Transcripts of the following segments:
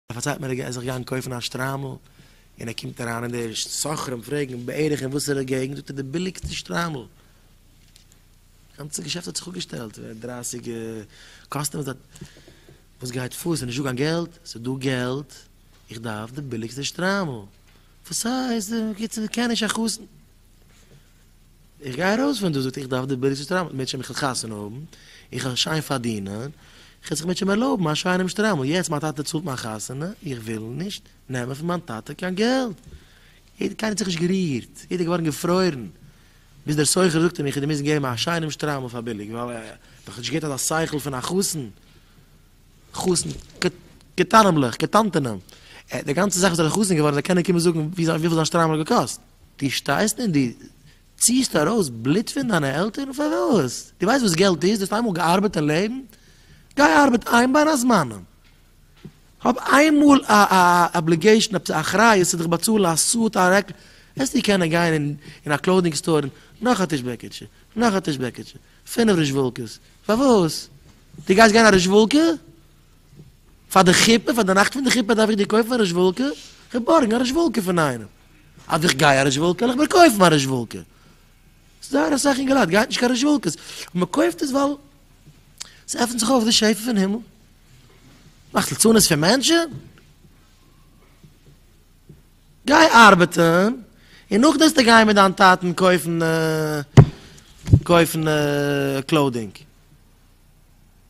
ער פארציילט מיר ער גייט זיך גיין קויפן א שטריימל, און ער קומט אריין און די סוחרים פרעגן בערך אין וואסערע געגנט, זאגט ער די ביליגסטע שטריימל, די גאנצע געשעפט האט זיך אפגעשטעלט, דרייסיג קאסטומערס דארט, וואס גייט פאר, עס איז נישטא קיין געלט? עס איז דא געלט, איך דארף די ביליגסטע שטריימל, וואס הייסט, קיצור, קען נישט א חתן. איך גיי ארויס פון דא זאגט ער איך דארף די ברירה צו שטראמעלן מיט מענטשן איך וויל חתונה האבן, איך וויל שיין פארדינען, איך וויל זיך מיט מענטשן ערלויבן א שיינעם שטראמעל, יעצט מיין טאטע צאלט מיין חתונה, איך וויל נישט נעמען פון מיין טאטע קיין געלט, יעדער קיינער האט זיך נישט גערירט, יעדער איז געווארן געפרוירן, ביז דער סוחר זאגט אים איך וועל דיר מוזן געבן א שיינעם שטראמעל פאר ביליג, ווייל ער האט דאך נישט געהערט אזא שכל פון א חתן, חתן קטנמ'לעך, קטנטענעם, די גאנצע זאך וואס ער האט חתן געווארן זיי קענען קומען זאגן וויפיל זיין שטראמעל האט געקאסט. דו שטייסט און דו ציהסט ארויס בלוט פון דיינע עלטערן? פארוואס? דו ווייסט וואס געלט איז? דו האסט איינמאל געארבעט אין לעבן? גיי ארבעט איין בין הזמנים. האב איינמאל א אבליגעישן, עפעס א אחריות צו דיך באצאלן א סוט, א רעקל, וועסטו קענען גיין אין א קלאודינג סטאר און נאך א טיש בעקיטשע, נאך א טיש בעקיטשע, פינף רוזשוואלקעס. פארוואס? דו גייסט גיין א רוזשוואלקע? פאר די חופה, פאר די נאכט פון די חופה דארף איך דיר קויפן א רעשוואלקע, איך האב בארגן א רעשוואלקע פון איינעם, אז איך גיי א רעשוואלקע וועל איך מיר קויפן א רעשוואלקע, זייער אסאך אינגעלייט גייט נישט קיין רעשוואלקעס, און מען קויפט עס ווייל ס'עפנט זיך אויף די שפע פון הימל, מאכט לצנות פון מענטשן? גיי ארבעטן, און נאכדעם וועסטו גיין מיט דיין טאטן קויפן קויפן קלאודינג.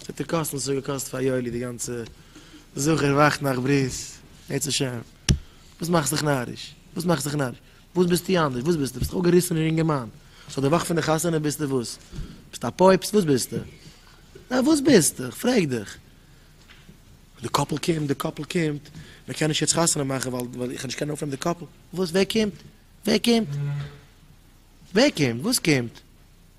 וועט ער קאסטן וואס עס האט געקאסט פאר יואלי די גאנצע זכור ווייכטנאכט ברית בעזהשי ת, וואס מאכסט דיך נאריש? וואס מאכסט דיך נאריש? וואס ביסטו אנדערש? וואס ביסטו? ביסט דאך א געריסענער אינגערמאן, סאו די וואך פון די חתונה ביסטו וואס? ביסטו א פויפסט? וואס ביסטו? ניין וואס ביסטו? איך פרעג דיך. די קאפל קומט, די קאפל קומט, מען קען נישט יעצט חתונה מאכן ווייל איך וועל נישט קענען אויפנעמען די קאפל, וואס ווער קומט? ווער קומט? ווער קומט? וואס קומט?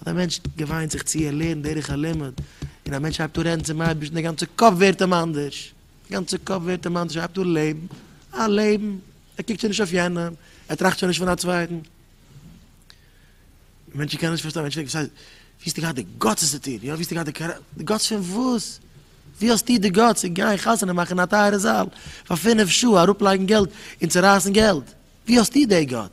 אז א מענטש געוויינט זיך צו ער לערנט דרך הלימוד, און א מענטש הייבט אן רעדן צום אייבערשטן די גאנצע קאפ ווערט אים אנדערש, די גאנצע קאפ ווערט אים אנדערש ער הייבט אן לעבן א לעבן, ער קוקט שוין נישט אויף יענעם, ער טראכט שוין נישט פון א צווייטן. מענטשן קענען נישט פארשטיין, מענטש פרעגט וואס הייסט, ווי האסטו געהאט די גאטס עס צו טון, יא ווי האסטו געהאט די קאראקטער, די גאטס פון וואס, ווי האסטו די גאטס צו גיין חתונה מאכן אין א טייערע זאל פאר פֿינף שעה, אראפלייגן געלט און צורייסן געלט, ווי האסטו די גאטס?